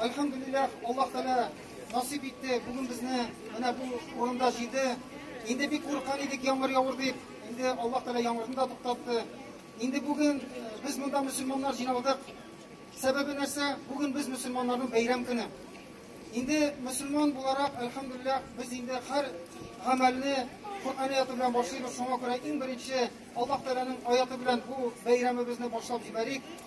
Альхамдулиллах, Аллаһ Тәгалә насыйп итте. Бүген безне менә бу урында җыйды. Инде бик курккан идек яңгыр явыр дип. Инде Аллаһ Тәгалә яңгырны да туктатты. Инде бүген без монда мөселманнар җыйналдык. Сәбәбе нәрсә? Бүген без мөселманнарның бәйрәм көне. Инде мөселман буларак, альхамдулиллах, без инде һәр гамәлне Коръән аяты белән башлыйбыз. Шуңа күрә иң беренче Аллаһ Тәгаләнең аяты белән бу бәйрәмебезне башлап җибәрик.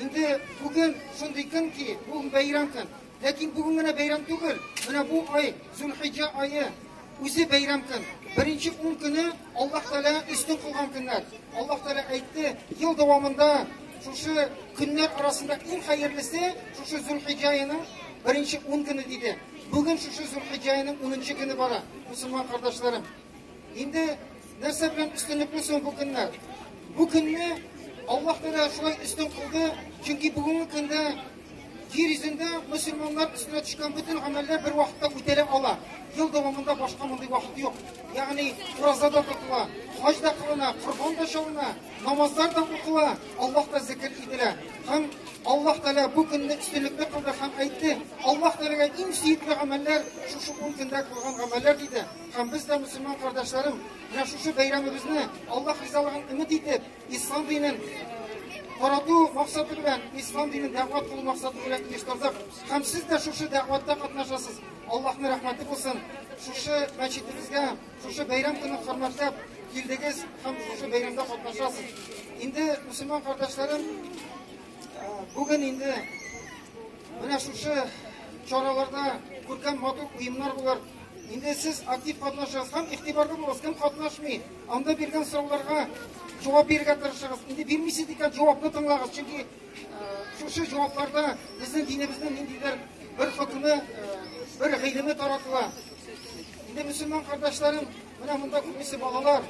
Инде бүген шундый көн ки, бу бәйрәм көн. Ләкин бүген генә бәйрәм түгел. Менә бу ай, Зулхиҗа ае, үзе бәйрәм көн. Беренче ун көне Аллаһ Тәгалә өстен кылган көннәр. Аллаһ Тәгалә әйтте, ел дәвамында шушы көннәр арасында иң хәерлесе шушы Зулхиҗа аеның беренче ун көне диде. Бүген шушы Зулхиҗа аеның унынчы көне бара, мусульман кардәшләрем. Инде нәрсә белән өстенлекле соң бу көннәр? Бу көнне Аллаһ Тәгалә шулай өстен кылды, чөнки бүгенге көндә җир йөзендә мөселманнар өстенә төшкән бөтен гамәлләр бер вакытта үтәлә ала. Ел дәвамында башка мондый вакыт юк. Ягъни ураза да тотыла, хаҗ да кылына, корбан да чалына, намазлар да укыла, Аллаһ та зикр ителә. Һәм Аллаһ Тәгалә бу көнне өстенлекле кылды һәм әйтте, Аллаһ Тәгаләгә иң сөекле гамәлләр шушы ун көндә кылган гамәлләр диде. Һәм без дә, мөселман кардәшләрем, менә шушы бәйрәмебезне Аллаһ ризалыгын өмет итеп, ислам динен тарату максаты белән, ислам динен дәгъват кылу максаты белән оештырдык. Һәм сез дә шушы дәгъватта катнашасыз. Аллаһның рәхмәте булсын. Шушы мәчетебезгә, шушы бәйрәм көнен хөрмәтләп килдегез һәм шушы бәйрәмдә катнашасыз. Инде мөселман кардәшләрем, бүген инде менә шушы чараларда күркәм матур уеннар булыр. Инде сез актив катнашыгыз һәм игътибарлы булыгыз. Кем катнашмый, анда биргән сорауларга җавап бирергә тырышыгыз. Инде бирмисез икән, җавапны тыңлагыз, чөнки шушы җавапларда безнең динебезнең ниндидер бер хөкеме, бер гыйлеме таратыла. Инде мөселман кардәшләрем, менә монда күбесе балалар.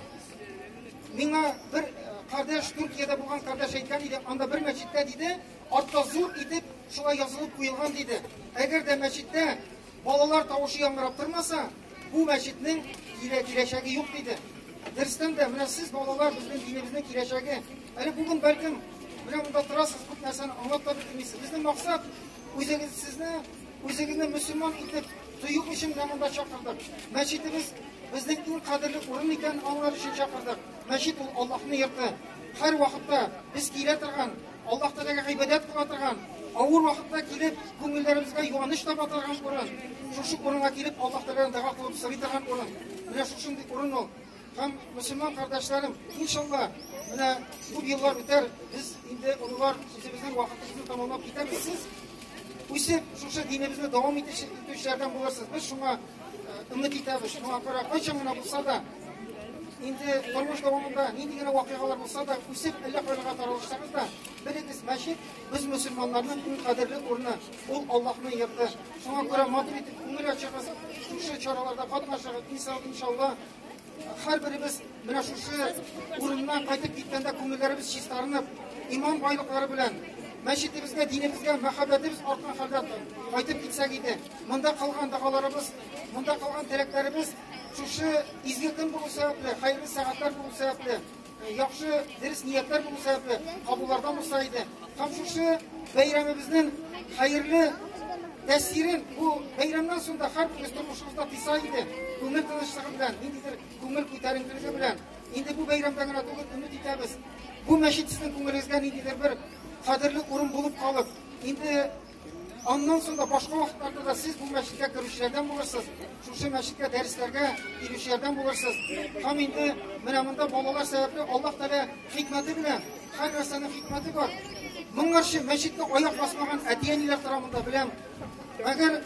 Миңа бер кардәш Төркиядә булган кардәш әйткән иде, анда бер мәчеттә диде, артта зур итеп шулай язылып куелган диде. Әгәр дә мәчеттә Балалар тавышы яңгырап тормаса, бу мәчетнең килә киләчәге юк диде. Дөрестән дә, менә сез балалар безнең динебезнең киләчәге. Әле бүген бәлкем менә монда торасыз, күп нәрсәне аңлап та бетермисез. Безнең максат үзегез сезне үзегезне мөселман итеп тою өчен менә монда чакырдык. Мәчетебез безнең иң кадерле урын икән, аңлар өчен чакырдык. Мәчет ул Аллаһның йорты. Һәр вакытта без килә торган Аллаһ Тәгаләгә гыйбадәт кыла торган, авыр вакытта килеп, күңелләребезгә юаныч таба торган урын. Шушы урынга килеп, Аллаһ Тәгаләдән дәга кылып сорый торган урын. Менә шушындый урын ул. Һәм мөселман кардәшләрем, иншалла, менә күп еллар үтәр, без инде олылар сүзебезнең вакытыбызны тәмамлап китәбез. Сез үсеп, шушы динебезне дәвам итүчеләрдән булырсыз. Без шуңа Өмет итәбез, шуңа күрә кайчан гына булса да, инде тормыш дәвамында нинди генә вакыйгалар булса да, үсеп әллә кайларга таралышсагыз да, белегез, мәчет без мөселманнарның иң кадерле урыны, ул Аллаһның йорты. Шуңа күрә матур итеп күңел ачыгыз, шушы чараларда катнашыгыз, иншалла, Һәрберебез менә шушы урыннан кайтып киткәндә күңелләребез чистарынып, иман байлыклары белән мәчетебезгә, динебезгә мәхәббәтебез арткан хәлдә кайтып китсәк иде. Монда кылган дагаларыбыз, монда кылган теләкләребез шушы изге көн булу сәбәпле, хәерле сәгатьләр булу сәбәпле, Яхшы дөрес ниятләр булу сәбәпле кабуллардан булса иде. Һәм шушы бәйрәмебезнең хәерле тәэсирен бу бәйрәмнән соң да һәрберебез тормышыбызда тыйса иде. Күңел тынычлыгы белән, ниндидер күңел күтәренкелеге белән. Инде бу бәйрәмдә генә түгел, өмет итәбез. Бу мәчет сезнең күңелегезгә ниндидер бер кадерле урын булып калып, инде Аннан соң да башка вакытларда да сез бу мәчеткә керүчеләрдән булырсыз, шушы мәчеткә дәресләргә килүчеләрдән булырсыз. Һәм инде менә монда балалар сәбәпле Аллаһ Тәгалә хикмәте белән, һәр нәрсәнең хикмәте бар. Моңарчы мәчеткә аяк басмаган әти-әниләр тора монда беләм. Әгәр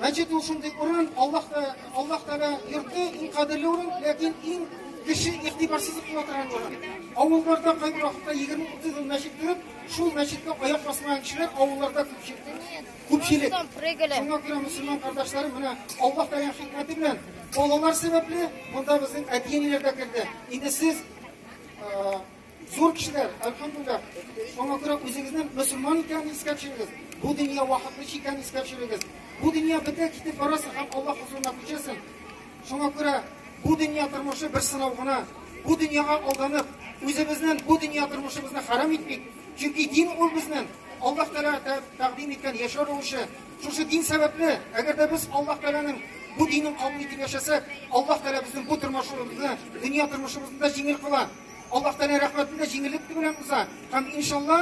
мәчет ул шундый урын, Аллаһ Тәгалә, Аллаһ Тәгалә йорты иң кадерле урын, ләкин иң кеше игътибарсызлык кылып торган урын. Авылларда кайбер вакытта 20-30 мәчет күреп, Шул мәчеткә аяк басмаган кешеләр авылларда күпчелек. Күпчелек. Шуңа күрә мөселман кардәшләрем менә Аллаһ Тәгалә хикмәте белән балалар сәбәпле монда безнең әти-әниләр дә керде. Инде сез зур кешеләр, әлхәмдулилла. Шуңа күрә үзегезнең мөселман икәнен искә төшерегез. Бу дөнья вакытлыча икәнен искә төшерегез. Бу дөнья бетә, китеп барасың һәм Аллаһ хозурына күчәсең. Шуңа күрә бу дөнья тормышы бер сынау гына. Бу дөньяга алданып, үзебезнен бу дөнья тормышыбызны харам итмик, чөнки дин ул безнен Аллаһ Тәгалә тәкъдим иткән яшәү рәвеше. Шушы дин сәбәпле, әгәр дә без Аллаһ Тәгаләнең бу динен кабул итеп яшәсәк, Аллаһ Тәгалә безнең бу тормышыбызны, дөнья тормышыбызны да җиңел кыла. Аллаһ Тәгалә рәхмәтен дә җиңеллек белән уза. Һәм иншалла,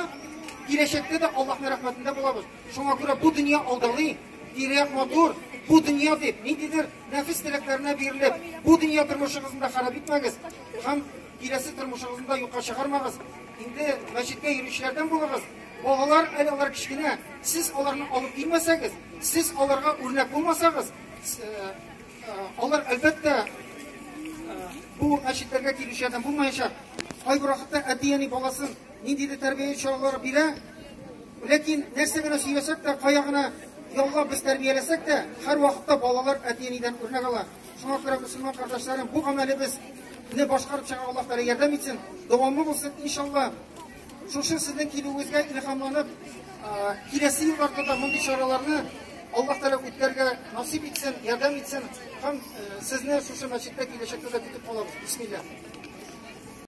киләчәктә дә Аллаһның рәхмәтендә булабыз. Шуңа күрә бу дөнья алдалый, Тирәк матур, бу дөнья дип, ниндидер нәфис теләкләренә бирелеп, бу дөнья тормышыгызны да харап итмәгез һәм киләсе тормышыгызны да юкка чыгармагыз. Инде мәчеткә йөрүчеләрдән булыгыз. Балалар әле алар кечкенә, сез аларны алып килмәсәгез, сез аларга үрнәк булмасагыз, э, э, алар әлбәттә э, бу мәчетләргә килүчеләрдән булмаячак. Кайбер вакытта әти-әни баласын ниндидер тәрбия чаралары бирә, Ләкин нәрсә генә сөйләсәк тә, кая гына яллап без тәрбияләсәк тә, һәрвакытта балалар әти-әнидән үрнәк ала. Шуңа күрә, мөселман кардәшләрем, бу гамәлебез не башкарып чыга Аллаһ Тәгалә ярдәм итсен. Дәвамлы булсын, иншалла. Шушы сезнең килүегезгә илһамланып, киләсе елларда да мондый чараларны Аллаһ Тәгалә үткәрергә насип итсен, ярдәм итсен. Һәм сезне шушы мәчеттә киләчәктә дә көтеп калабыз. Бисмилла.